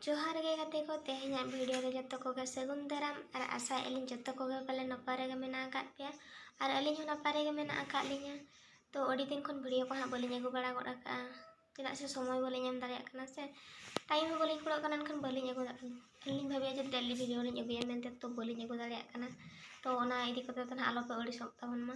ᱡᱚᱦᱟᱨ ᱜᱮ ᱜᱟᱛᱮ ᱠᱚ ᱛᱮᱦᱮᱧᱟᱜ ᱵᱷᱤᱰᱤᱭᱳ ᱨᱮ ᱡᱚᱛᱚ ᱠᱚᱜᱮ ᱥᱟᱹᱜᱩᱱ ᱫᱟᱨᱟᱢ ᱟᱨ ᱟᱥᱟᱭᱮᱫ ᱟᱹᱞᱤᱧ ᱡᱚᱛᱚ ᱠᱚᱜᱮ ᱯᱟᱞᱮ ᱱᱟᱯᱟᱭ ᱨᱮᱜᱮ ᱢᱮᱱᱟᱜ ᱟᱠᱟᱫ ᱯᱮᱭᱟ ᱟᱨ ᱟᱹᱞᱤᱧ ᱦᱚᱸ ᱱᱟᱯᱟᱭ ᱨᱮᱜᱮ ᱢᱮᱱᱟᱜ ᱟᱠᱟᱫ ᱞᱤᱧᱟ ᱛᱚ ᱟᱹᱰᱤ ᱫᱤᱱ ᱠᱷᱚᱱ ᱵᱷᱤᱰᱤᱭᱳ ᱠᱚ ᱦᱟᱸᱜ ᱵᱟᱹᱞᱤᱧ ᱟᱹᱜᱩ ᱵᱟᱲᱟ ᱜᱚᱫ ᱟᱠᱟᱫᱼᱟ ᱪᱮᱫᱟᱜ ᱥᱮ ᱥᱚᱢᱚᱭ ᱵᱟᱹᱞᱤᱧ ᱮᱢ ᱫᱟᱲᱮᱭᱟᱜ ᱠᱟᱱᱟ ᱥᱮ ᱴᱟᱭᱤᱢ ᱦᱚᱸ ᱵᱟᱹᱞᱤᱧ ᱠᱩᱲᱟᱹᱜ ᱠᱟᱱᱟ ᱮᱱᱠᱷᱟᱱ ᱵᱟᱹᱞᱤᱧ ᱟᱹᱜᱩ ᱫᱟᱲᱮᱭᱟᱜ ᱠᱟᱱᱟ ᱟᱹᱞᱤᱧ ᱵᱷᱟᱹᱵᱤᱭᱟ ᱡᱮ ᱰᱮᱞᱤ ᱵᱷᱤᱰᱤᱭᱳ ᱞᱤᱧ ᱟᱹᱜᱩᱭᱟ ᱢᱮᱱᱛᱮ ᱛᱚ ᱵᱟᱹᱞᱤᱧ ᱟᱹᱜᱩ ᱫᱟᱲᱮᱭᱟᱜ ᱠᱟᱱᱟ ᱛᱚ ᱚᱱᱟ ᱤᱫᱤ ᱠᱟᱛᱮ ᱫᱚ ᱦᱟᱸᱜ ᱟᱞᱚᱯᱮ ᱟᱹᱲᱤᱥᱚᱜ ᱛᱟᱵᱚᱱ ᱢᱟ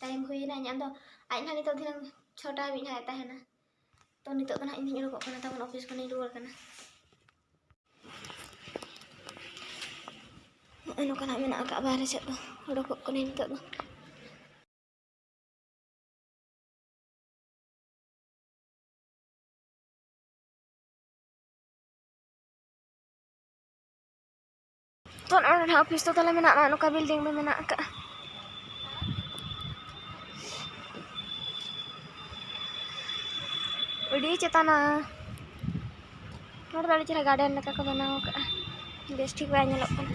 ᱴᱟᱭᱤᱢ ᱦᱩᱭᱮᱱᱟ ᱤᱧᱟᱹᱜ ᱫᱚ ᱟᱡ ᱱᱟᱦᱟᱜ ᱱᱤᱛᱚᱜ ᱫᱷᱤᱱᱟᱹᱝ ᱪᱷᱚᱴᱟ ᱦᱟᱹᱵᱤᱡ ᱱᱟᱦᱟᱜ ᱮ ᱛᱟᱦᱮᱱᱟ ᱛᱚ ᱱᱤᱛᱚᱜ ᱫᱚ ᱱᱟᱦᱟᱜ ᱤᱧ ᱫᱚᱧ ᱩᱰᱩᱠᱚᱜ ᱠᱟᱱᱟ ᱛᱟᱵᱚᱱ ᱚᱯᱷᱤᱥ ᱠᱷᱚᱱᱤᱧ ᱨᱩᱣᱟᱹᱲ ᱠᱟᱱᱟ ᱱᱚᱜᱼᱚᱭ ᱱᱚᱝᱠᱟ ᱱᱟᱦᱟᱜ ᱢᱮᱱᱟᱜ ᱟᱠᱟᱫᱼᱟ ᱵᱟᱦᱨᱮ ᱥᱮᱫ ᱫᱚ ᱩᱰᱩᱠᱚᱜ ᱠᱟᱹᱱᱟᱹᱧ ᱱᱤᱛᱚᱜ ᱫᱚ ᱛᱚ ᱱᱚᱜᱼᱚᱭ ᱱᱚᱰᱮ ᱚᱯᱷᱤᱥ ᱫᱚ ᱛᱟᱦᱚᱞᱮ ᱢᱮᱱᱟᱜᱼᱟ ᱱᱚᱜᱼᱚᱭ ᱱᱚᱝᱠᱟ ᱵᱤᱞᱰᱤᱝ ᱫᱚ ᱢᱮᱱᱟᱜ ᱟᱠᱟᱫᱼᱟ ᱟᱹᱰᱤ ᱪᱮᱛᱟᱱᱟ ᱱᱚᱰᱮ ᱫᱚ ᱟᱹᱰᱤ ᱪᱮᱦᱨᱟ ᱜᱟᱨᱰᱮᱱ ᱞᱮᱠᱟ ᱠᱚ ᱵᱮᱱᱟᱣ ᱟᱠᱟᱫᱼᱟ ᱵᱮᱥ ᱴᱷᱤᱠ ᱵᱟᱭ ᱧᱮᱞᱚᱜ ᱠᱟᱱᱟ